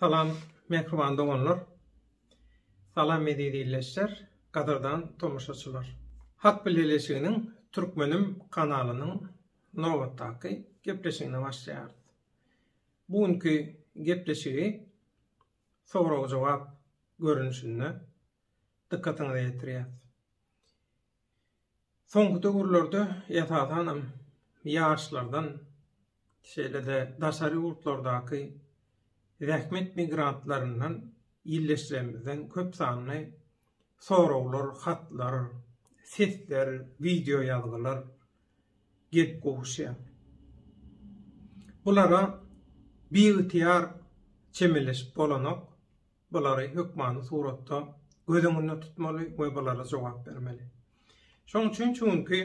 Salam mähriban doganlar. Salam eziz ildeşler, gadyrdan tomaşaçylar. Halk Bileleşiginiň Türkmenim kanalynyň nobatdaky gepleşigine başlaýarys. Bu günki gepleşigi sorag-jogap görnüşinde dykgatyňyza ýetirýäs. Soňky döwürlerde esasanam ýaşlardan, şeýle-de daşary ýurtlardaky zähmet migrantlaryndan illeşjimizden köp sanly soraglar, hatlar, sesler, wideo ýazgylar gelip gowuşýar. Bulara biygtyýar çemeleşip bolanok. bulary hökmany suratda göz öňünde tutmaly we bulara jogap bermeli. Şoň üçin şu günki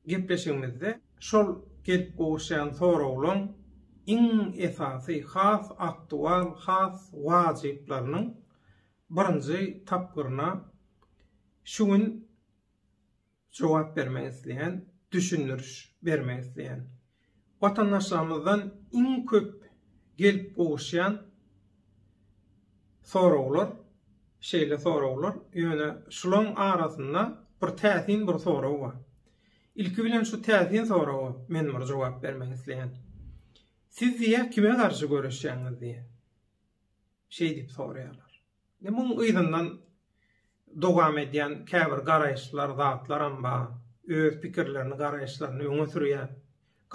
gepleşigimizde şol gelip gowuşýan soraglaryň iň esasy, has aktual, has wajyplarynyň birinji tapgyryna şu gün Jogap bermek isleýän, düşündiriş bermek isleýän watandaşlarymyzdan iň köp gelip gowuşýan soraglar şeýle soraglar, ýöne şulaň arasynda bir täsin bir sorag bar. Ilki bilen şu täsin soraga men bir jogap bermek isleýän. Siz diýýä kime garşy göreşýäňiz diýýä. Şeýdip soraýarlar. Indi muň yzyndan dowam edýän käbir garaýyşlar, zatlaram bar. Öz pikirlerini, garaýyşlaryny öňe sürýär.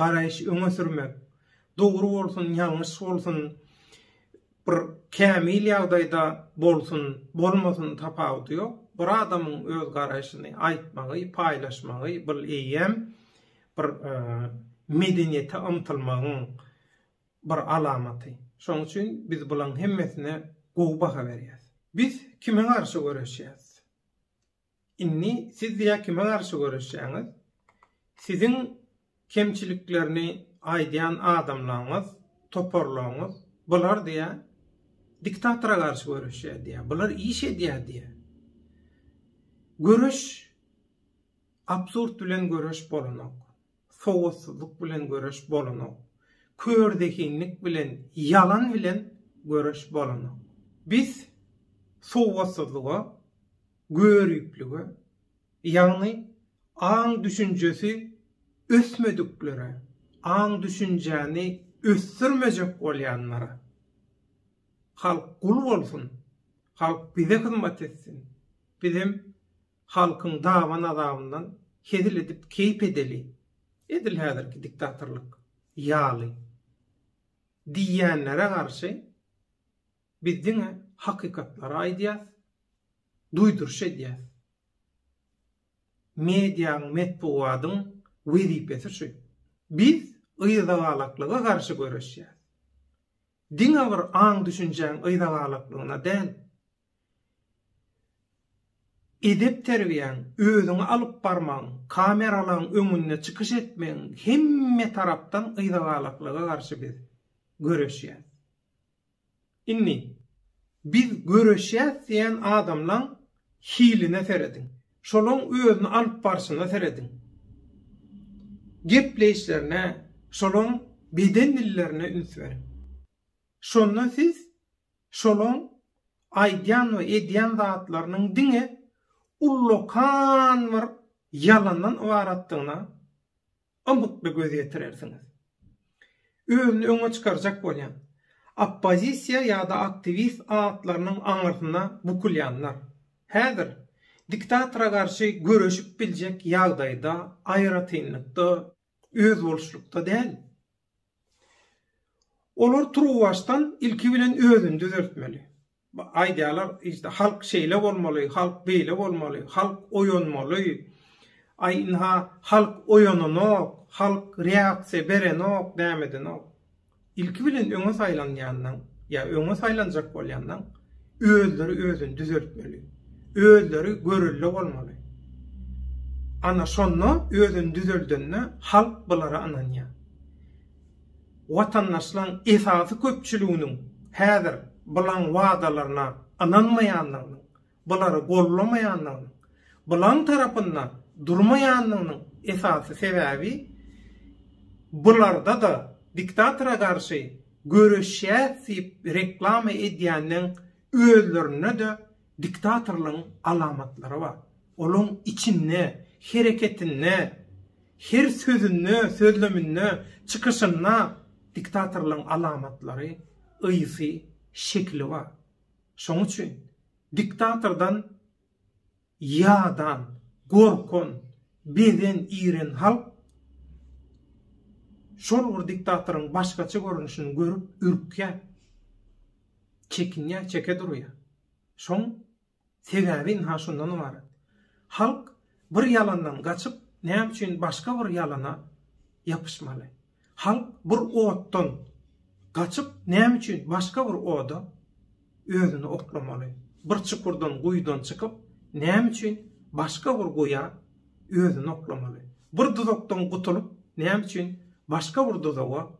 Garaýyş öňe sürmek, dogry bolsun, ýalňyş bolsun, bir kämil ýagdaýda bolsun, bolmasyn tapawudy ýok. Bir adamyň öz garaýşyny aýtmagy, paýlaşmagy bul eýýäm bir medeniýete ymtylmagyň, bir alamaty. Şonuň üçin biz bulaň hemmesine gowy baha berýäs. Biz kime garşy göreşýäs? Indi siz diýä kime garşy göreşýäňiz? Siziň kemçiliklerini aýdýan adamlaňyz, toparlaňyz, bular diýä diktatora garşy göreşýär diýä. Bular iş edýär diýä. Göreş absurd bilen göreş bolanok. Sowatsyzlyk bilen göreş bolanok. Kör zehinlik bilen, ýalan bilen göreş bolanok. Biz sowatsyzlyga, göriplige, ýagny aň-düşünjesi ösmediklere, aň-düşünjäni ösdürmejek bolýanlara, Halk gul bolsun, halk bize hyzmat etsin, bizem Halkyň daban-azabyndan hezil edip keýp edeli, edil häzirki diktatorlyk ýaly diýýänlere garşy biz diňe hakykatlary aýdýas, duýduryş edýäs. Mediaň, metbugadyň wezipesi şu. Biz yzagalaklyga garşy göreşýäs. Diňe bir aň-düşünjäň yzagalaklygyna däl, Edep-terbiýäň, özüňi alyp barmagyň, kameralaryň öňünde çykyş etmegiň hemme tarapdan gyzagalaklga garşy biz göreşýäs. Indi biz göreşýäs diýen adamlaň hiline serediň. Şolaň özüni alyp barşyna serediň. Gepleýişlerine, şolaň beden dillerine üns beriň. Şonda siz şolaň aýdýan we edýän zatlarynyň diňe ullakan bir ýalandan ybaratdygyna ymykly göz ýetirersiňiz. Özüni öňe çykarjak bolýan, oppozisiýa ýa-da aktiwist atlarynyň aňyrsyna bukulýanlar, häzir diktatora garşy göreşip biljek ýagdaýda, aýratynlykda, özboluşlykda däl. Olar turuwbaşdan ilki bilen özüni düzeltmeli. Aýdýarlar, işte, halk şeýle bolmaly, halk beýle bolmaly, halk oýanmaly. Aý, ynha, halk oýananok, halk reaksiýa berenok, nämedenok. Ilki bilen öňe saýlanýandan ýa öňe saýlanjak bolýandan, özleri özüni düzeltmeli. Özleri görelde bolmaly. Ana şonda özüni düzeldende halk bulara ynanýar. Watandaşlaryň esasy köpçüliginiň häzir bulaň wadalaryna ynanmaýandygynyň, bulary gollamaýandygynyň, bulaň tarapynda durmaýandygynyň esasy sebäbi bularda-da diktatora garşy Göreşýäs diýip reklama edýänleň özlerinde-de diktatorlygyň alamatlary bar. Olaň içinde, hereketinde, her sözünde, sözleminde, çykyşynda diktatorlygyň alamatlary, ysy, şekili bar. Şoň üçin diktatordan Ýadan, gorkan, bezen, iren halk şol bir diktatoryň başgaça görnüşini görüp ürkýär. Çekinýär, çeke durýar. Şoň sebäbi ynha şundan ybarat. Halk bir ýalandan gaçyp, näme üçin başga bir ýalana ýapyşmaly? Halk bir otdan gaçyp näme üçin başga bir oda özüni oklamaly? Bir çukurdan, guýudan çykyp näme üçin başga bir guýa özüni oklamaly? Bir duzakdan gutulyp näme üçin başga bir duzaga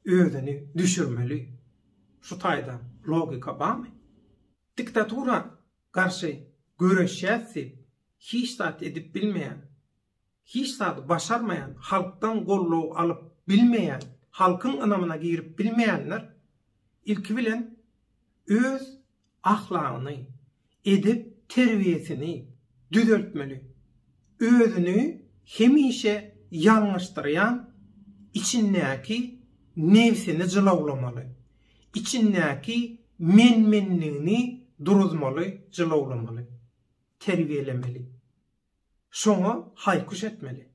özüni düşürmeli? Şu taýda logika barmy? Diktatura garşy göreşýäs diýip hiç zat edip bilmeýän Hiç zady başarmaýan, halkdan goldaw alyp bilmeýän, halkyň ynamyna girip bilmeýänler ilki bilen öz ahlagyny, edep terbiýesini düzeltmeli. Özüni hemişe ýalňyşdyrýan içindäki nebsini jylawlamaly. Içindäki men-menligini duruzmaly, jylawlamaly. Terbiýelemeli. Şoňa haýkuş etmeli.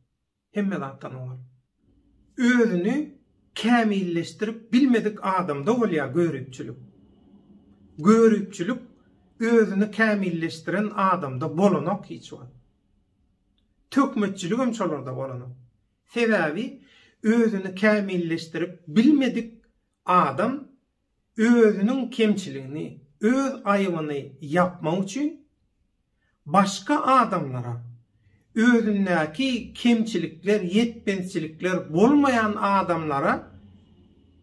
Hemme zatdan owal. Özüni kämilleşdirip bilmedik adamda bolýar göripçilik. Göripçilik özüni kämilleşdiren adamda bolanok hiç wagt. Töhmetçiligem şolarda bolanok. Sebäbi özüni kämilleşdirip bilmedik adam özüniň kemçiligini, öz aýybyny ýapmak üçin başga adamlara özündäki kemçilikler, ýetmezçilikler bolmaýan adamlara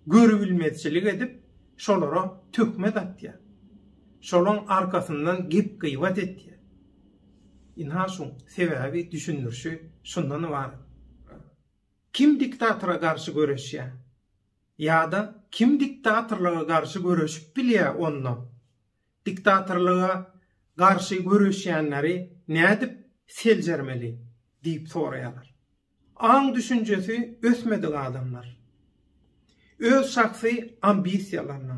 görübilmezçilik edip, şolara töhmet atýar. Şolaň arkasyndan gep-gybat etýär. Ynha şu sebäbi düşündirişi şundan ybarat. Kim diktatora garşy göreşýär? Ýa-da kim diktatorlyga garşy göreşip bilýä onda? Diktatorlyga garşy göreşýänleri nädip seljermeli? diýip soraýarlar. Aň düşünjesi ösmedik adamlar. Öz şahsy ambisiýalaryna,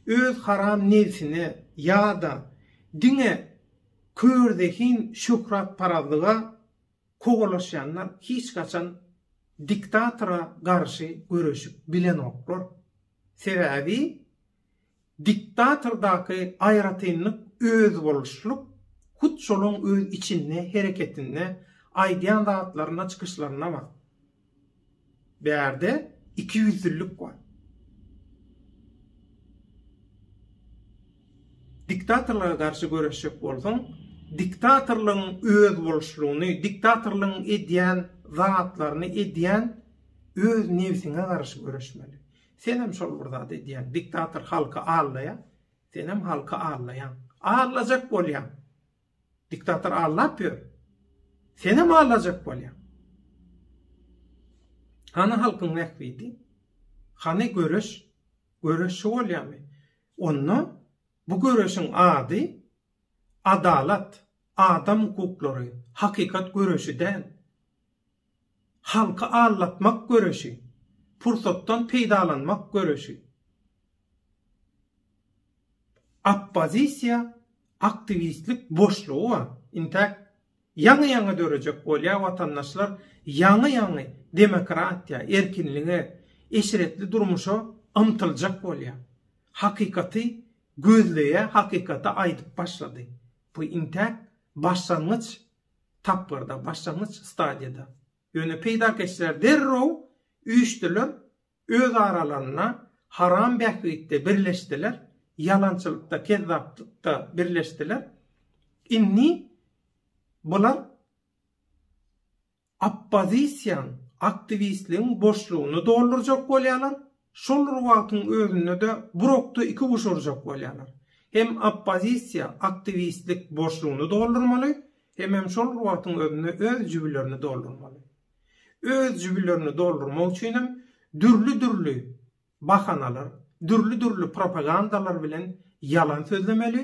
öz haram nebsine ýa-da diňe kör zehin şöhratparazlyga, kowalaşýanlar hiç haçan diktatora garşy göreşip bilenoklar. Sebäbi diktatordaky aýratynlyk özboluşlylyk hut şolaň öz içinde, hereketinde, aýdýan zatlarynda, çykyşlarynda bar. Bärde ikiýüzlülik bar. Diktatorlara garşy göreşjek bolsaň, diktatorlygyň özboluşlygyny, diktatorlygyň edýän zatlaryny edýän öz nebsiňe garşy göreşmeli. Senem şol bir zat edýäň. Diktator halky allaýar, senem halky allaýaň. Allajak bolýaň. Diktator allap ýör. Senem allajak bolýaň. Hany halkyň bähbidi? Hany göreş? Göreş şu bolýamy? Onda bu göreşiň ady adalat, adam hukuklary, hakykat göreşi däl. Halky aldatmak göreşi, pursatdan peýdalanmak göreşi. Oppozisiýa aktiwistlik boşlugy bar. Intäk ýaňy-ýaňy dörejek bolýar watandaşlar ýaňy-ýaňy demokratiýa, erkinlige, eşretli durmuşa ymtyljak bolýar. Hakykaty gözleýär, hakykaty aýdyp başlady. Bu intäk başlangyç tapgyrda, başlangyç stadiýada. Ýöne peýdakeşler derrew üýşdüler, öz aralarynda haram bähbitde birleşdiler, ýalançylykda, kezzaplykda birleşdiler. Indi bular oppozisiýanyň, aktiwistligiň boşlugyny doldurjak bolýarlar, Şol bir wagtyň özünde-de bir okda iki guş urjak bolýarlar. Hem oppozisiýa aktiwistlik boşlugyny doldurmaly, hemem şol bir wagtyň özünde öz jübülerini doldurmaly. Öz jübülerini doldurmak üçinem dürli-dürli bahanalar, dürli-dürli propagandalar bilen ýalan sözlemeli,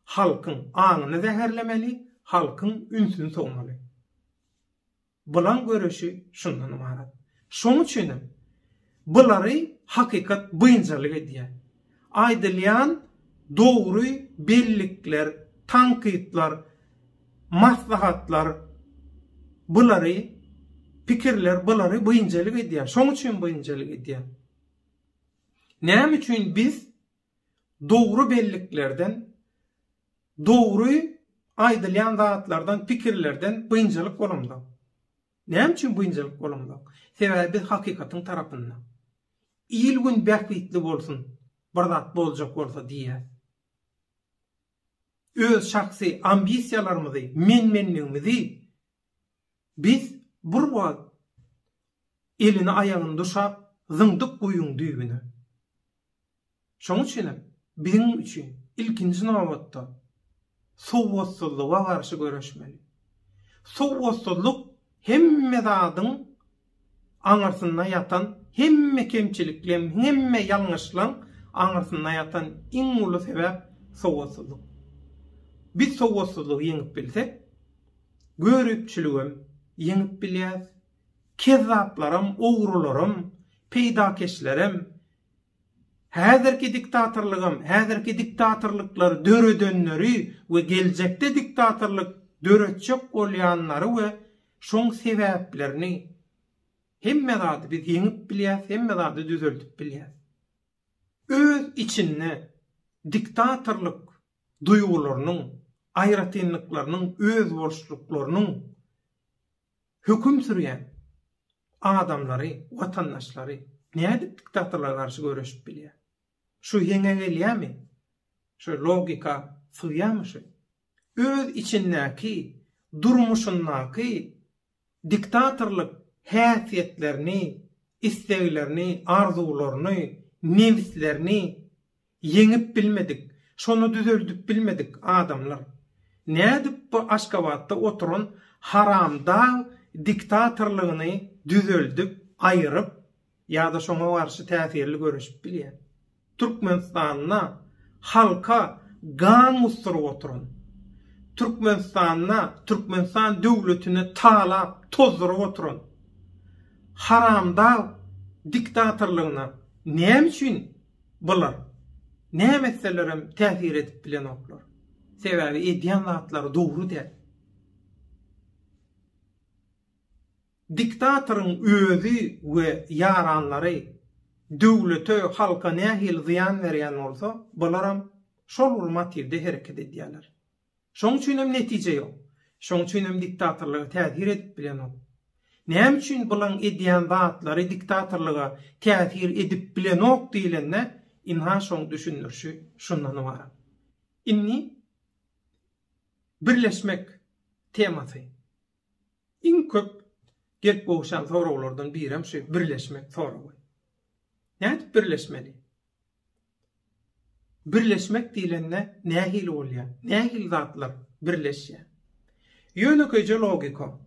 halkyň aňyny zäherlemeli, halkyň ünsüni sowmaly. Bulaň göreşi şundan ybarat. Şoň üçinem bulary hakykat bynjalyk edýär. Aýdylýan dogry bellikler, tankytlar, maslahatlar bulary, pikirler bulary bynjalyk edýär. Şoň üçin bynjalyk edýär. Näme üçin biz dogry belliklerden, dogry aýdylýan zatlardan, pikirlerden biynjalyk bolamzok. Näme üçin biynjalyk bolamzok? Sebäbi biz hakykatyň tarapynda. Il-gün bähbitli bolsun, bir zat boljak bolsa diýýäs. Öz şahsy ambisiýalarymyzy, men-menligimizi Biz bir wagt elini aýagyny duşap zyňdyk guýyň düýbüne. Şoň üçinem biziň üçin ilkinji nobatda sowatsyzlyga garşy göreşmeli. Sowatsyzlyk hemme zadyň aňyrsynda ýatan hemme kemçiliklem, hemme ýalňyşlaň aňyrsynda ýatan iň uly sebäp sowatsyzlyk. Biz sowatsyzlygy ýeňip bilsek, göripçiligem ýeňip bilýäs, kezzaplaram, ogrularam, peýdakeşlerem, Häzirki diktatorlygam, häzirki diktatorlyklary döredenleri we geljekde diktatorlyk döretjek bolýanlary we şoň sebäplerini, hemme zady biz ýeňip bilýäs, hemme zady düzeldip bilýäs. Öz içinde diktatorlyk duýgularynyň, aýratynlyklarynyň, özboluşlyklarynyň Höküm sürýän adamlary, watandaşlary nädip diktatorlara garşy göreşip bilýär? Şu heňe gelýärmi? Şu logika sygýarmy şu? Öz içindäki, durmuşyndaky diktatorlyk häsiýetlerini, isleglerini, arzuwlaryny, nebislerini Ýeňip bilmedik, şony düzeldip bilmedik adamlar. Nädip bu Aşgabatda oturan haramdag diktatorlygyny düzeldip, aýyryp ýa-da şoňa garşy täsirli göreşip bilýär? Türkmenistanda halka gan gusduryp oturan, Türkmenistanda Türkmenistan döwletini talap, tozduryp oturan haramdag diktatorlygyna näme üçin Bular, näme etselerem täsir edip bilenoklar. Sebäbi edýän zatlary dogry däl. Diktatoryň özi we ýaranlary döwlete, halka nähili zyýan berýän bolsa, bularam şol bir motiwde hereket edýärler. Şoň üçin hem netije ýok. Şoň üçin hem diktatorlyga täsir edip bilenok. Näme üçin bulaň edýän zatlary diktatorlyga täsir edip bilenok diýlende, ynha şoň düşündirişi şundan ybarat. Indi birleşmek temasy. Iň köp gelip gowuşan soraglardan birem şu birleşmek soragy. Nädip birleşmeli? Birleşmek diýlende nähili bolýar? Nähili zatlar birleşýär? Ýönekeýje logika.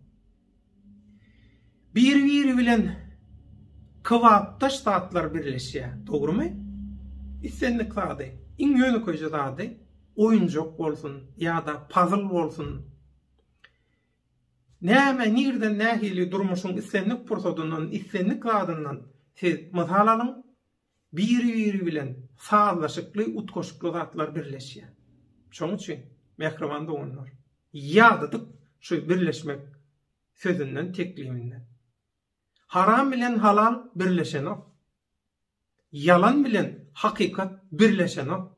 Bir-biri bilen kybapdaş zatlar birleşýär, dogrumy? Islendik zady, iň ýönekeýje zady, oýunjak bolsun ýa-da pazl bolsun, näme, nirden, nähili durmuşyň islendik pursadyndan, islendik zadyndan siz mysal alyň, Biri-biri bilen sazlaşykly, utgaşykly zatlar birleşýär. Şonuň üçin, mähriban doganlar, ýadadyk şu birleşmek sözünden, tekliminden. Haram bilen halal birleşenok. Ýalan bilen hakykat birleşenok.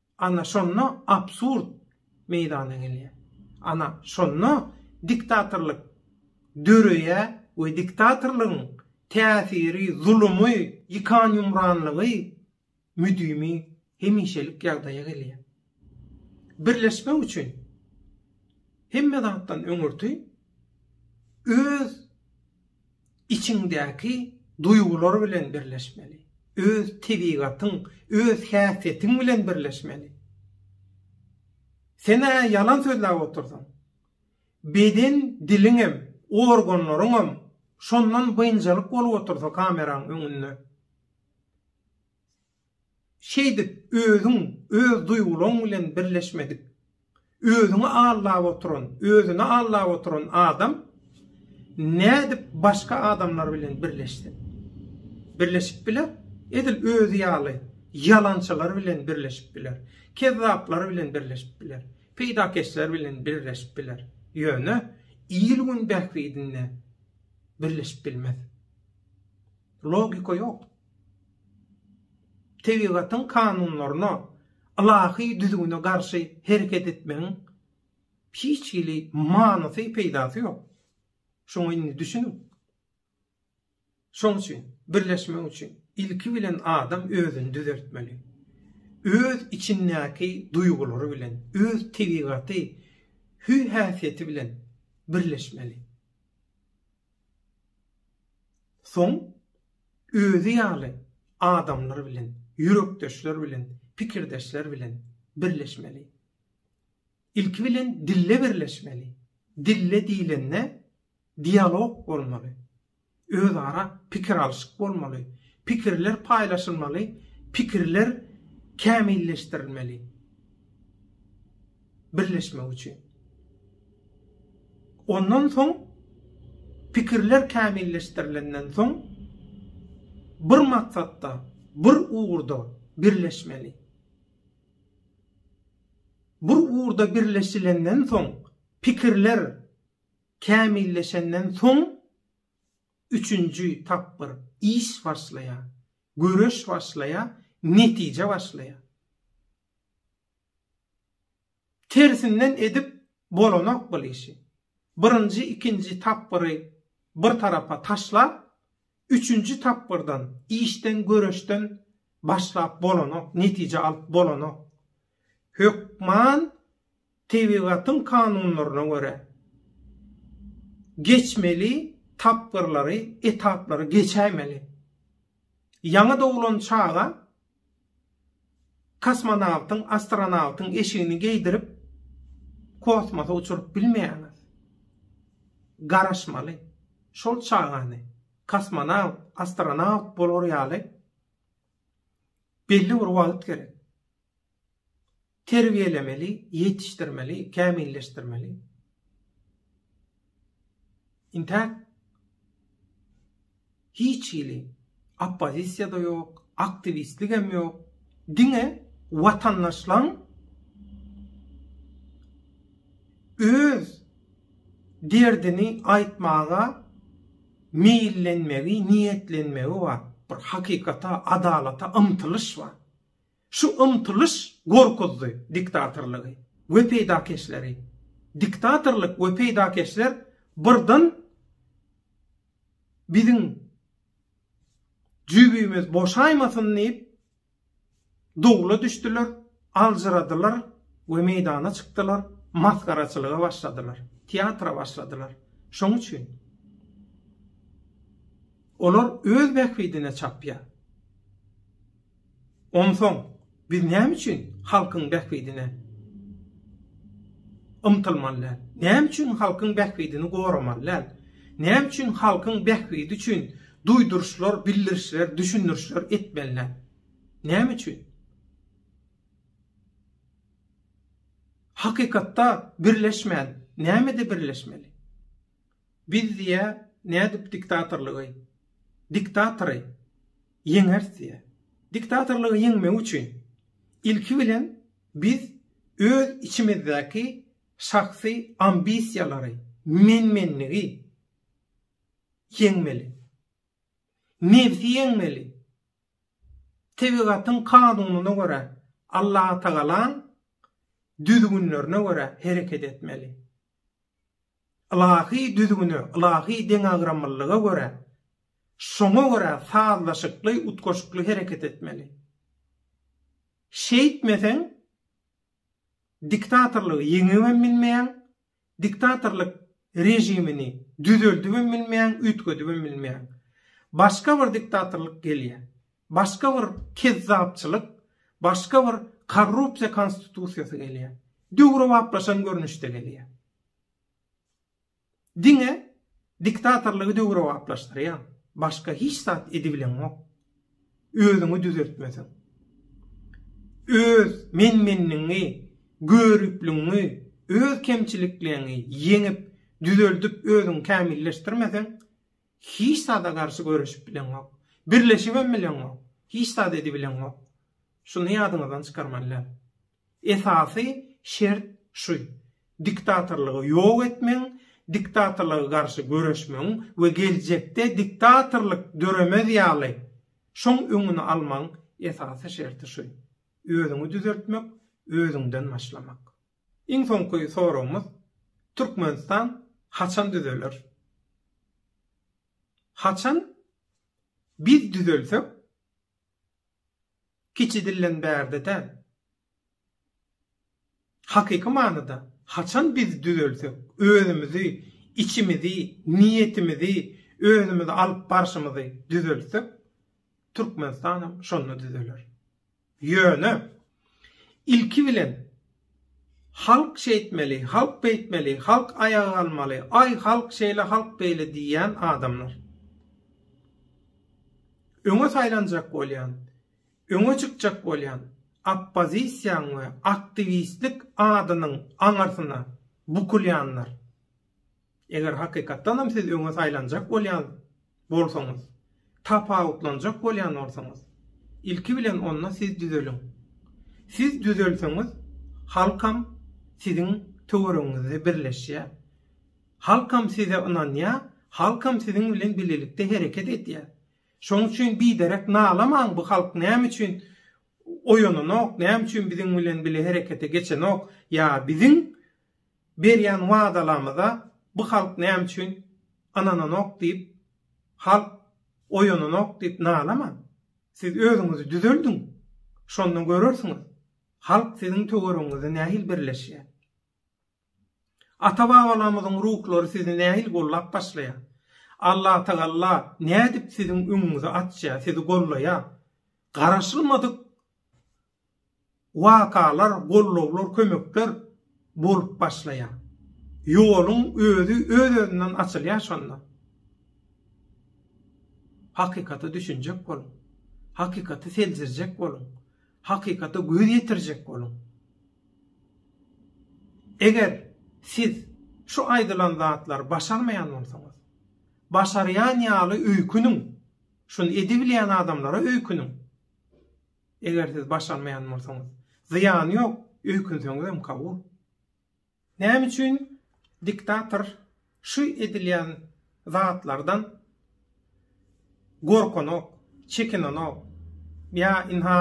Ana şonda absurd meýdana gelýär. Ana şonda diktatorlyk döreýär we diktatorlygyň täsiri, zulumy, ýykan-ýumranlygy müdimi, hemişelik ýagdaýa gelýär. Birleşmek üçin hemme zatdan öňürti öz Içiňdäki duýgular bilen birleşmeli. Öz tebigatyň, öz häsiýetiň bilen birleşmeli. Sen-ä ýalan sözläp otyrsyň. Beden diliňem, organlaryňam şondan biynjalyk bolup otursa kameraň öňünde. Şeýdip, özüň, öz duýgulaň bilen birleşmedik, özüňi aldap oturan, özüni aldap oturan adam nädip başga adamlar bilen birleşsin? Birleşip biler? Edil özi ýaly ýalançylar bilen birleşip biler, kezzaplar bilen birleşip biler, peýdakeşler bilen birleşip biler, ýöne il-gün bähbidine birleşip bilmez. Logika ýok. Tebigatyň kanunlaryna, ylahy düzgüne garşy hereket etmegiň hiç hili manysy, peýdasy ýok. Şoňa indi düşüniň. Şoň üçin birleşmek üçin ilki bilen adam özüni düzeltmeli. Öz içindäki duýgulary bilen, öz tebigaty, hüý-häsiýeti bilen birleşmeli. Soň özi ýaly adamlar bilen, ýürekdeşler bilen, pikirdeşler bilen birleşmeli. Ilki bilen dille birleşmeli. Dille diýlende dialog bolmaly. Özara pikir alyşyk bolmaly. Pikirler paýlaşylmaly, pikirler kämilleşdirilmeli. birleşmek üçin. Ondan soň pikirler kämilleşdirilenden soň bir maksatda, bir ugurda birleşmeli. Bir ugurda birleşilenden soň pikirler kämilleşenden soň üçünji tapgyr iş başlaýar, göreş başlaýar, netije başlaýar. Tersinden edip bolanok bul işi. Birinji ikinji tapgyry bir tarapa taşlap üçünji tapgyrdan işden göreşden başlap bolanok netije alyp bolanok. Hökman tebigatyň kanunlaryna görä geçmeli tapgyrlary etaplary geçäýmeli. Ýaňy doglan çaga Kosmonawtyň, astronawtyň eşigini geýdirip, kosmosa uçuryp bilmeýäňiz. Garaşmaly. Şol çagany kosmonawt, astronawt bolar ýaly belli bir wagt gerek. Terbiýelemeli, ýetişdirmeli, kämilleşdirmeli. Intäk hiç hili oppozisiýa-da ýok, aktiwistligem ýok. Diňe watandaşlaň öz derdini aýtmaga meýillenmegi, niýetlenmegi bar. Bir hakykata, adalata ymtylyş bar. Şu ymtylyş gorkuzdy diktatorlygy we peýdakeşleri. Diktatorlyk we peýdakeşler birden biziň jübimiz boşaýmasyn diýip dowla düşdüler, aljyradylar we meýdana çykdylar, masgaraçylyga başladylar, teatra başladylar. Şoň üçin olar öz bähbidine çapýar. Onsoň biz näme üçin halkyň bähbidine ymtylmaly däl? Näme üçin halkyň bähbidini goramaly däl? Näme üçin halkyň bähbidi üçin duýduryşlar, bildirişler, düşündirişler etmeli däl? Näme üçin? Hakykatda birleşmän, nämede birleşmeli? Biz diýä nädip diktatorlygy, diktatory ýeňeris diýä. Diktatorlygy ýeňmek üçin ilki bilen biz öz içimizdäki şahsy ambisiýalary, men-menligi ýeňmeli. Nebsi ýeňmeli. Tebigatyň kanunyna görä, Allatagalaň düzgünlerine görä hereket etmeli. Ylahy düzgüne, ylahy deňagramlylyga görä, şoňa görä sazlaşykly, utgaşykly hereket etmeli. Şeýtmeseň, diktatorlygy ýeňip hem bilmeýäň, diktatorlyk režimini düzeldip hem bilmeýäň, üýtgedip hem bilmeýäň. Başga bir diktatorlyk gelýär. Başga bir kezzapçylyk, başga bir korrupsiýa konstitusiýasy gelýär. Döwrebaplaşan görnüşde gelýär. Diňe diktatorlygy döwrebaplaşdyrýar. Başga hiç zat edibileňok. Özüňi düzeltmeseň. Öz men-menligiňi, görüpligiňi, öz kemçilikleňi ýeňip, düzeldip özüňi kämilleşdirmeseň, Hiç zada garşy göreşip bileňok. Birleşibem bileňok. Hiç zat edibileňok. Şuny ýadyňyzdan çykarmalylar. Esasy şert şu. Diktatorlygy ýok etmegiň, diktatorlyga garşy göreşmegiň we geljekde diktatorlyk döremez ýaly şoň öňüni almagyň esasy şerti şu. Özüňi düzeltmek, özüňden başlamak. Iň soňky soragymyz Türkmenistan haçan düzeler? Haçan biz düzelsek kiçi dilden bärde däl. Hakyky manyda haçan biz düzelsek özümizi içimizi niýetimizi özümizi alyp barşymyzy düzelsek Türkmenistanam şonda düzeler. Ýöne, ilki bilen, halk şeýtmeli, halk beýtmeli, halk aýaga galmaly, aý, halk şeýle, halk beýle diýýän adamlar. Öňe saýlanjak bolýan, öňe çykjak bolýan oppozisiýaň we aktiwistlik adynyň aňyrsyna bukulýanlar. Eger hakykatdan hem siz öňe saýlanjak bolýan bolsaňyz, tapawutlanjak bolýan bolsaňyz, ilki bilen onda siz düzeliň. Siz düzelseňiz, halkam siziň töweregiňizde birleşýär. Halkam size ynanýar, halkam siziň bilen bilelikde hereket edýär. Şonuň üçin biderek nalamaň bu halk näme üçin oýananok, näme üçin biziň bilen bile herekete geçenok ýa biziň Berýän wadalarymyza bu halk näme üçin ynananok diýip, halk oýananok diýip nalamaň. Siz özüňizi düzeldiň. Şonda görersiňiz, halk siziň töweregiňizde nähili birleşýär. Ata-babalarymyzyň ruhlary sizi nähili gollap başlaýar. Allatagalla nädip siziň öňüňizi açýar, sizi gollaýar. Garaşylmadyk wakalar, gollawlar, kömekler bolup başlaýar. Ýoluň özi öz-özünden açylýar şonda. Hakykata düşünjek boluň. Hakykaty seljerjek boluň. Hakykata göz ýetirjek boluň. Eger siz şu aýdylan zatlary başarmaýan bolsaňyz, başarýan ýaly öýküniň, şuny edibilýän adamlara öýküniň. Eger siz baş almaýan bolsaňyz. Zyýany ýok, öýkünseňizem kabul. Näme üçin diktator şu edilýän zatlardan gorkanok, çekinenok? Ýa ynha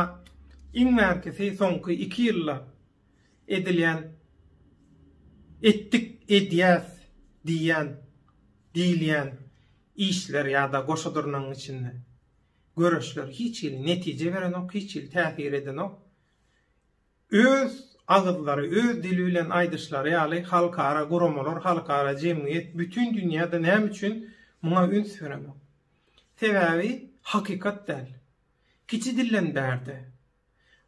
iň bärkisi soňky iki ýylda edilýän etdik, edýäs diýýän, diýilýän işler ýa-da goşadyrnagyň içinde. göreşler hiç hili netije berenok, hiç hili täsir edenok. Öz agyzlary, öz dili bilen aýdyşlary ýaly, halkara guramalar, halkara jemgyýet, bütin dünýä-de näme üçin muňa üns berenok? Sebäbi hakykat däl. Kiçi dilden bärde,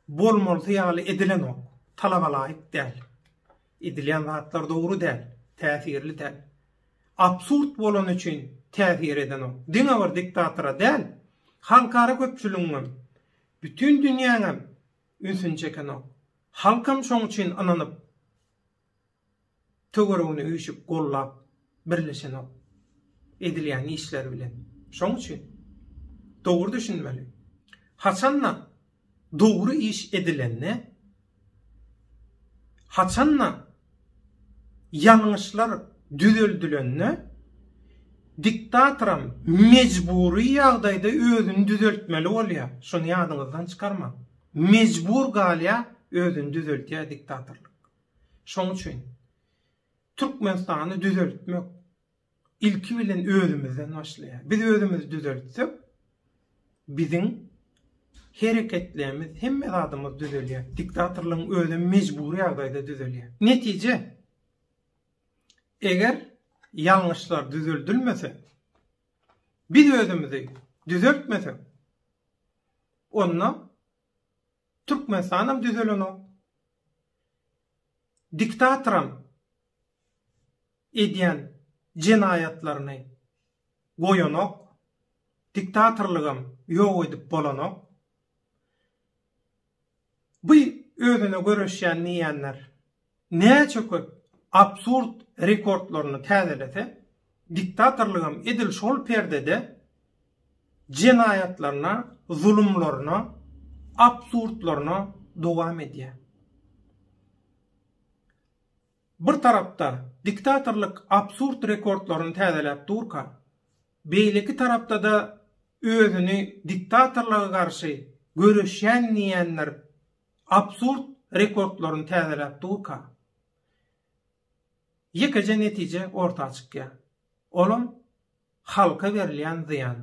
Bolmalysy ýaly edilenok. Talabalaýyk däl. Edilýän zatlar dogry däl. Täsirli däl. Absurd bolany üçin täsir edenok. Diňe bir diktatora däl, halkara köpçüligiňem, bütin dünýäňem ünsüni çekenok. Halkam şoň üçin ynanyp. Töweregini üýşüp gollap birleşenok edilýän işleri bilen. Şoň üçin dogry düşünmeli. Haçanda dogry iş edilende, haçanda ýalňyşlar düzeldilende diktatoram mejbury ýagdaýda özüni düzeltmeli bolýar. Şony ýadyňyzdan çykarmaň. Mejbur galýar özüni düzeltýär diktatorlyk. Şoň üçin Türkmenistany düzeltmek ilki bilen özümizden başlaýar. Biz özümizi düzeltsek, biziň hereketlerimiz, hemme zadymyz düzelýär. Diktatorlygyň özi mejbury ýagdaýda düzelýär. Netije, eger ýalňyşlar düzeldilmese, biz özümizi düzeltmesek, onda Türkmenistan hem düzelenok, diktatoram edýän jenaýatlaryny goýanok, diktatorlygam ýok edip bolanok. Bu özüne göreşýän diýýänler näçe köp absurd rekordlaryny täzelese, Diktatorlygam edil şol perdede jenaýatlaryna, zulumlaryna, absurdlaryna dowam edýär. Bir tarapda diktatorlyk absurd rekordlaryny täzeläp durka, beýleki tarapda-da özüni diktatorlyga garşy göreşýän diýýänler absurd rekordlaryny täzeläp durka, Ýekeje netije orta çykýar. Olam halka berilýän zyýan.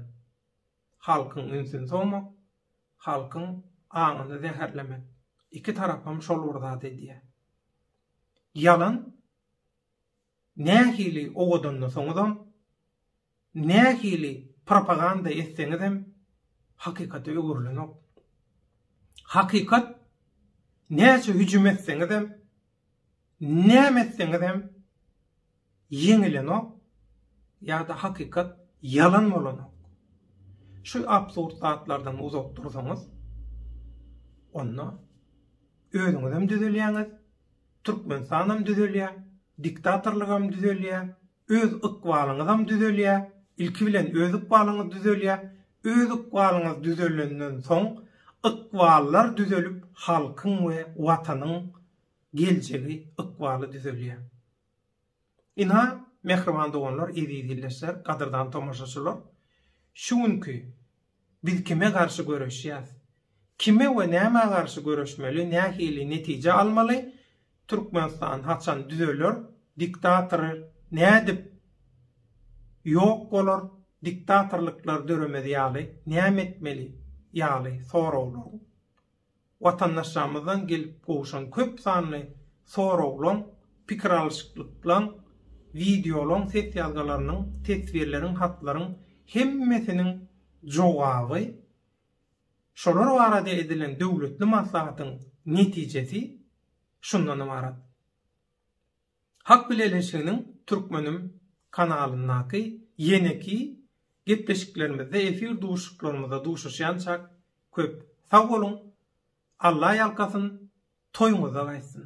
Halkyň ünsüni sowmak, halkyň aňyny zäherlemek. Iki tarapam şol bir zat edýär. Ýalan nähili owadanda soňuzam Nähili propaganda etseňizem hakykata öwrülenok. Hakykat näçe hüjüm etseňizem, näme etseňizem ýeňilenok ýa-da hakykat ýalan bolanok. Şu absurd zatlardan uzak dursaňyz, onda özüňizem düzelýäňiz, Türkmenistanam düzelýär, diktatorlygam düzelýär, Öz ykbalyňyzam düzelýär, ilki bilen öz ykbalyňyz düzelýär, öz ykbalyňyz düzelenden soň ykballar düzelip halkyň we watanyň geljegi ykbaly düzelýär. Ynha, mähriban doganlar, eziz ildeşler, gadyrdan tomaşaçylar, şu günki Biz kime garşy göreşýäs? Kime we nämä garşy göreşmeli, nähili netije almaly, Türkmenistan haçan düzeler, diktator nädip ýok bolar, diktatorlyklar döremez ýaly näme etmeli ýaly soraglaryň Watandaşlarymyzdan gelip gowşan köp sanly soraglaň, pikir alyşyklyklarň, wideolaň, ses ýazgylarynyň, teswirleriň, hatlaryň hemmesiniň jogaby, şolar barada edilen döwletli maslahatyň netijesi şundan ybarat. Halk Bileleşiginiň Türkmenim kanalyndaky ýeneki gepleşiklerimizde efir duşuşyklarymyzda duşuşýançak köp sag boluň, Alla ýalkasyn, toýuňyzda gaýtsyn!